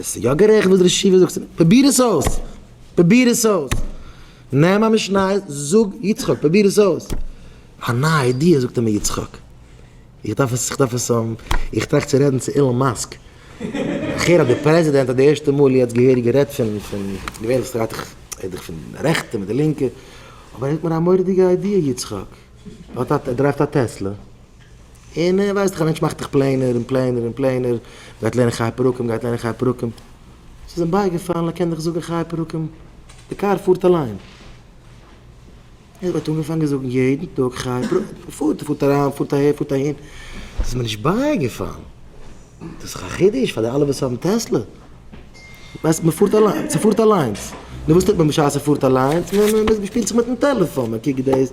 עס איז יא גערעכט וואס דער שיף זאגט, פרוביר עס אויס, פרוביר עס אויס, נעם א משניות, זאג יצחק, פרוביר עס אויס, א נייע איידיע זאגט אים יצחק, איך דארף עס, איך דארף עס האבן, איך טראכט צו רעדן צו אילאן מאסק, איך הער אז דער פרעזידענט האט די ערשטע מאל יעצט געהעריג גערעדט פון, פון, געווענליך רעדט ער דאך פון די רעכטע מיט די לינקע, אבער ער האט מיר א מורא'דיגע איידיע יצחק, ער דרייווט א טעסלע. און ווייסט דאך א מענטש מאכט דאך פלענער און פלענער און פלענער, גייט לערנען חי פרקים, גייט לערנען חי פרקים, ס'איז אים בייגעפאלן ער קען דאך זאגן חי פרקים, די קאר פארט אליין. ער האט אנגעפאנגען זאגן יעדן טאג חי פרקים, פארט ער פארט אריין פארט אהער פארט אהין, ס'איז מיר נישט בייגעפאלן, דאס איז דאך א חידוש פאר די אלע וואס האבן טעסלע, ווייסט מ'פארט אליין, ס'פארט אליינס, נו וואס טוט מען בשעת ס'פארט אליינס, מ'שפילט זיך מיטן טעלעפאן, מ'קוקט דאס,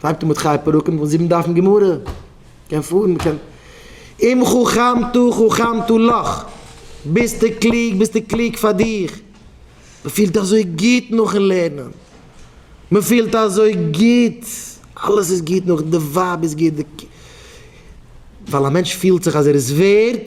פארט אן מיט חיי פרקים וואס זיבן דפים גמרא קען פארן מען קען אם חכמתו חכמתו לך ביסטו קלוג ביסטו קלוג פאר דיך מען פילט אזוי גוט נאכן לערנען מען פילט אזוי גוט אלעס איז גוט נאך די ווייב איז גוט די ווייל א מענטש פילט זיך אז ער איז ווערד.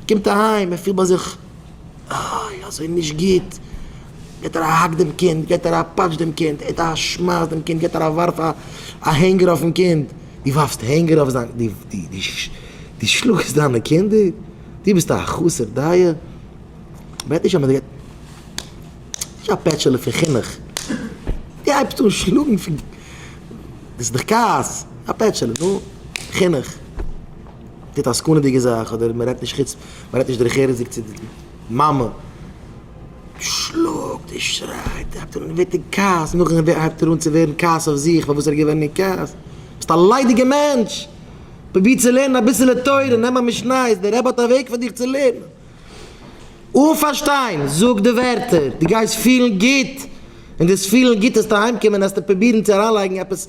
ער קומט אהיים ער פילט ביי זיך איי אזוי נישט גוט, געט ער א האק דעם קינד, געט ער א פאטש דעם קינד, ער געט א שמייס דעם קינד, געט ער א ווארף א הענגער אויפן קינד, דו ווארפסט הענגער אויף זיין, דו שלאגסט דיינע קינדער, דו ביסט א חסר דאיה, בעט נישט אז מען זאל, נישט א פעטשעלע פון חינוך, דו הייבסט אן שלאגן פון, דאס איז דאך כעס, א פעטשעלע, נו, חינוך. טוט א סכנה'דיגע זאך אדער מען רעדט נישט חוץ מען רעדט נישט דרך ארץ'דיג צו די מאמע, שלאגט און שרייט, הייבט אן און ווערט אין כעס, נאכדעם הייבט ער אן צו ווערן כעס אויף זיך פארוואס ער איז געווען אין כעס, ביסט א ליידיגע מענטש, פרוביר צו לערנען אביסעלע תורה, נעם א משנה, איז דער רבי האט א וועג פאר דיך צו לערנען אן פארשטיין, זאג די ווערטער, דו גייסט פילן גוט, און דאס פילן גוט וועסטו אהיימקומען און וועסטו פרובירן צו אריינלייגן עפעס.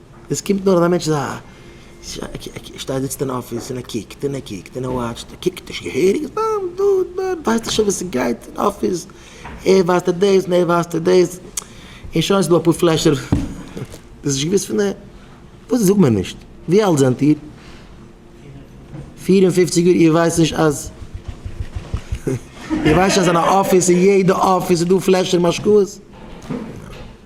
דאס קומט נאר אז א מענטש איז א. ער שטייט זיצט אין אפיס און ער קוקט און ער קוקט און ער וואטשט ער קוקט נישט געהעריג סתם דא דארט ווייסט נישט וואס עס גייט אין אפיס ער ווייסט ער דאס און ער ווייסט ער דאס און שוין ס'דא אפאר פלעשער דאס איז נישט געוויסט פון אים וואס זאגט מען נישט ווי אלט זענט איר? פֿיר און פֿופֿציק יאר איר ווייסט נישט אז איר ווייסט נישט אז אין א אפיס אין יעדע אפיס איז דא פלעשער משקאות?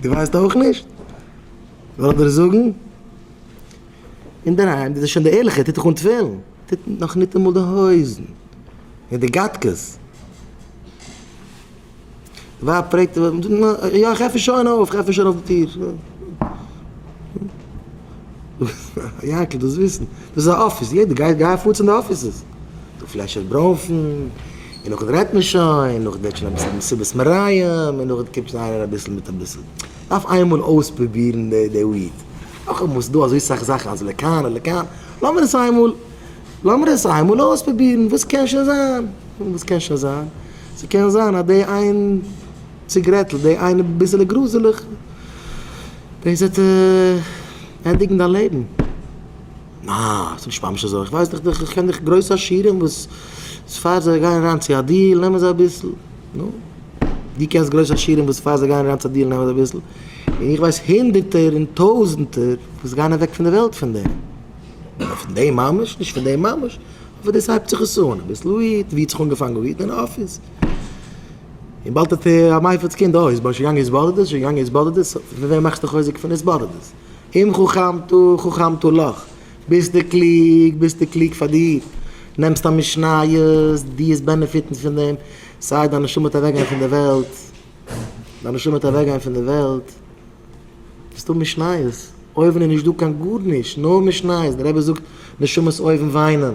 דו ווייסט אויך נישט? זאל איך דיר זאגן? אינדערהיים דאס איז שוין די ערליכע, טוט דיך אן תפילין, טוט נאך ניטאמאל די הויזן, מיט די גאטקעס. די ווייב פרעגט אים, יא איך עפן שוין אויף, איך עפן שוין אויף די טיר. יענקל, דאס וויסן, דאס איז א אפיס, יעדער גייט, גיי פאר צו די אפיסעס, דו פלעשער ברוינפן. און נאכדעם רעדט מען שוין, נאכדעם ווערט שוין אביסל מסיבת מרעים, און נאכדעם קומט שוין איינער אביסל מיט אביסל. דארף איינמאל אויספרובירן די וויד. נאכאמאל, ס'איז דא אזוי סאך זאכן אז לכאן או לכאן, לאמיר עס איינמאל, לאמיר עס איינמאל אויספרובירן, וואס קען שוין זיין? וואס קען שוין זיין? ס'קען זיין אז די איין ציגרעטל, די איין ביסעלע גראזעלעך, דאס וועט ענדיגן דיין לעבן. נאַ, איך בין נישט ממש אַזוי. איך ווייס דאָך דיך. איך קען דאָך גרויסע עשירים, וואָס איז פאַר זיי גייען אַריין צו אַ דיל, נעמען זיי אַ ביסל. נו, דו קענסט גרויסע עשירים, וואָס איז פאַר זיי גייען אַריין צו אַ דיל, נעמען זיי אַ ביסל. און איך ווייס הונדערטער און טויזנטער, וואָס גייען אַוועק פון דער וועלט פון דעם. אָבער פון דעם ממש, נישט פון דעם ממש. אָבער דאָס הייבט זיך עס אָן. אַ ביסל וויט, ווי האָט זיך אָנגעפאַנגען וויט? אין אָפיס. און באַלד האָט ער אַ מייפעלס קינד. אָ, איז שוין געגאַנגען התבודדות? איז שוין געגאַנגען התבודדות? פון וועם מאַכסטו חוזק פון התבודדות? אם חכמתו חכמתו לך, ביסטו קלוג, ביסטו קלוג פאר דיר, נעמסט א משניות, דו וועסט בענעפיטן פון דעם, סיי דיין נשמה וועט אוועקגיין פון די וועלט, דיין נשמה וועט אוועקגיין פון די וועלט, וועסט האבן משניות, אויבן איז נישטא קיין גארנישט, נאר משניות, דער רבי זאגט נשמות אויבן וויינען.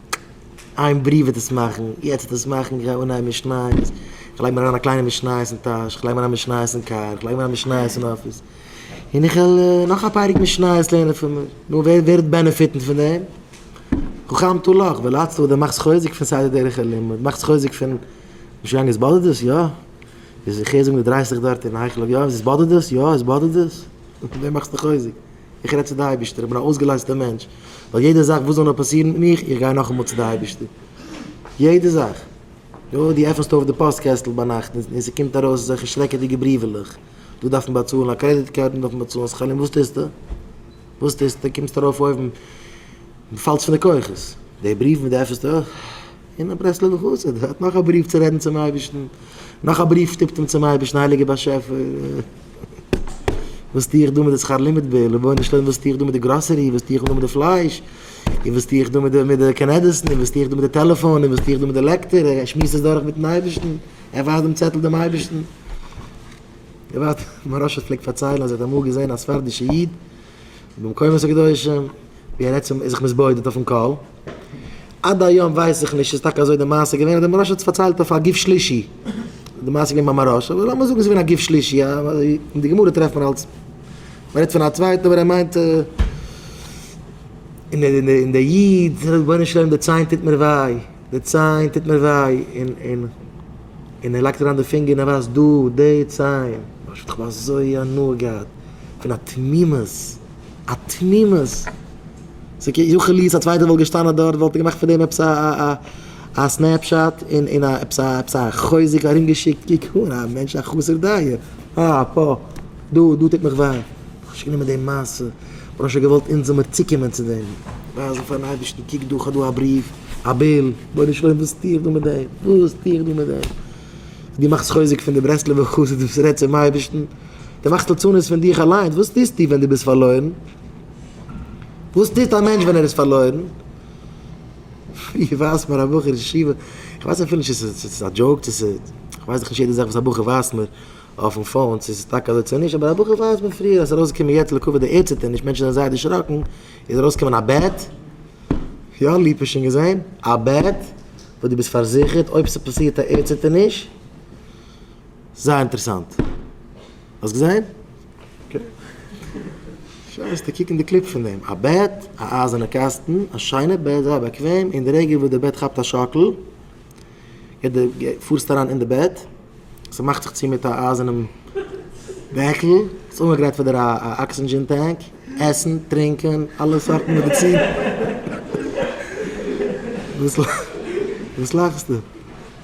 איין בריוו וועט עס מאכן, יעצט וועט עס מאכן, איך גיי אנהייבן משניות, איך לייג מיר אריין א קליינע משניות אין טאש, איך לייג מיר אריין משניות אין קאר, איך לייג מיר אריין משניות אין אפיס, און איך וועל נאך א פרק משניות לערנען פון מיר, נו ווער ווער וועט בענעפיטן פון דעם? חכם טו לך, ווער ליידסט אויב דו מאכסט חוזק פון סדר דרך הלימוד, מאכסט חוזק פון נישט גיין עס באדערט דאס? יא? איך הער זאגן דו דרייסט דיך דארט אין היכל אויף יואב, עס באדערט דאס? יא עס באדערט דאס? פון וועם מאכסטו חוזק? איך רעד צו די אייבערשטער, איך בין א אויסגעלייזטער מענטש, ווייל יעדע זאך וואס זאל נאר פאסירן מיט מיך, איך גיי נאכאמאל צו די אייבערשטער, יעדע זאך, יא, דו עפענסט אויף די פאסט קעסטל ביינאכט און ס'קומט ארויס אזעלכע שרעקעדיגע בריוועלעך, דא דארף מען באצאלן א קרעדיט קארד, דא דארף מען באצאלן שכר לימוד, וואס טוסטו? וואס טוסטו? קומסט ארויף אויבן און פאלסט פון די כוחות, די בריוו וואס דו עפענסט אויף. אין א ברסלב'ע חסיד האט נאך א בריוו צו רעדן צום אייבערשטן, נאך א בריוו שטופט אים צום אייבערשטן, הייליגער באשעפער, וואס טו איך דא מיט די שכר לימוד ביל, רבונו של עולם וואס טו איך דא מיט די גראסערי, וואס טו איך דא מיט די פלייש, און וואס טו איך דא מיט די קנעדעסן, און וואס טו איך דא מיט די טעלעפאן, און וואס טו איך דא מיט די לעקטער, ער שמועסט עס דורך מיטן אייבערשטן, ער ווייזט דעם צעטל דעם אייבערשטן. געוואלד, מוהרא ש פלעגט פארציילן אז ער האט אמאל געזען א ספרדישע איד במקומות הקדושים ווי ער רעדט צום, איז זיך מתבודד אויפן קול, עד היום ווייס איך נישט איז טאקע אזוי די מעשה געווען אדער די מהרש א האט עס פארציילט אויף א גוף שלישי די מעשה געווען ביים מהרש א אבער לאמיר זאגן עס איז געווען א גוף שלישי א אין די גמרא טרעפט מען אלס מ'רעדט פון א צווייטן אבער ער מיינט און דער איד זאגט רבונו של עולם די ציין טוט מיר וויי די ציין טוט מיר וויי און און און ער לייגט אריין די פינגער און ער ווייזט דא די ציין איך האב אזוי הנאה געהאט פון א תמימות. א תמימות. ס'איז כ י חוליס א צווייטער וואלט געשטאנען דארט וואלט ער געמאכט פון דעם עפעס א סנעפשאט און און עפעס א עפעס א חוזק ארומגעשיקט קוק אן א מענטש א חסר דעה אה פה דא דא טוט מיך וויי איך האב נישט גענומען דעם מעשה איך האב שוין געוואלט אונז זאלמיר צוקומען צו דעם ווייזן פארן אייבערשטן קוק דא כ'האב דא א בריוו א ביל רבונו של עולם וואס טו איך דא מיט דעם וואס טו איך דא מיט דעם דו מאכסט חוזק פון די ברסלב'ע חסיד וואס רעדט צום אייבערשטן. דו מאכסט ליצנות פון דיך אליינס, וואס טוסטו ווען דו ביסט פארלוירן? וואס טוט א מענטש ווען ער איז פארלוירן? איך ווייז מיר א בחור ישיבה, איך ווייס אפילו נישט צו ס'איז א דזשאוק צו ס'איז, איך ווייס דאך נישט יעדע זאך וואס א בחור ווייזט מיר אויפן פאון צו ס'איז טאקע אזוי צו נישט, אבער א בחור ווייזט מיר פריער אז ס'איז ארויסגעקומען יעצט לעיקוואד די ערדציטערניש, מענטשן זענען זייער דערשראקן, איז ארויסגעקומען א בעט, יא ליפא שוין געזען, א בעט וואס דו ביסט פארזיכערט אויב ס'פאסירט א ערדציטערניש. זייער אינטערעסאנט. האסט געזען? אקעי. שרייסטו קוקן די קליפ פון דעם. א בעט, א אייזערנע קאסטן, א שיינע בעט, זייער באקוועם, אין די רגע וואס די בעט כאפט א שאקל, גייט די, פארסטו אריין אין די בעט, ס'מאכט זיך צו מיט א אייזערנעם דעקל, ס'איז אנגעגרייט פאר דיר א אקסידזשין טענק, עסן, טרינקען, אלע סארטן מעדיצין. וואס לאכסטו?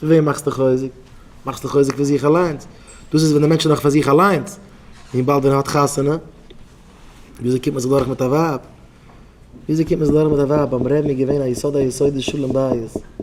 פון וועם מאכסטו חוזק? מאכסטו חוזק פון זיך אליינס. דאס איז ווען דער מענטש איז נאך פאר זיך אליינס. און באלד ווען ער האט חתונה, וויאזוי קומט מען זיך דורך מיט א ווייב? וויאזוי קומט מען זיך דורך מיט א ווייב? ביים רעבן איז געווען א יסוד היסודות שלום בית.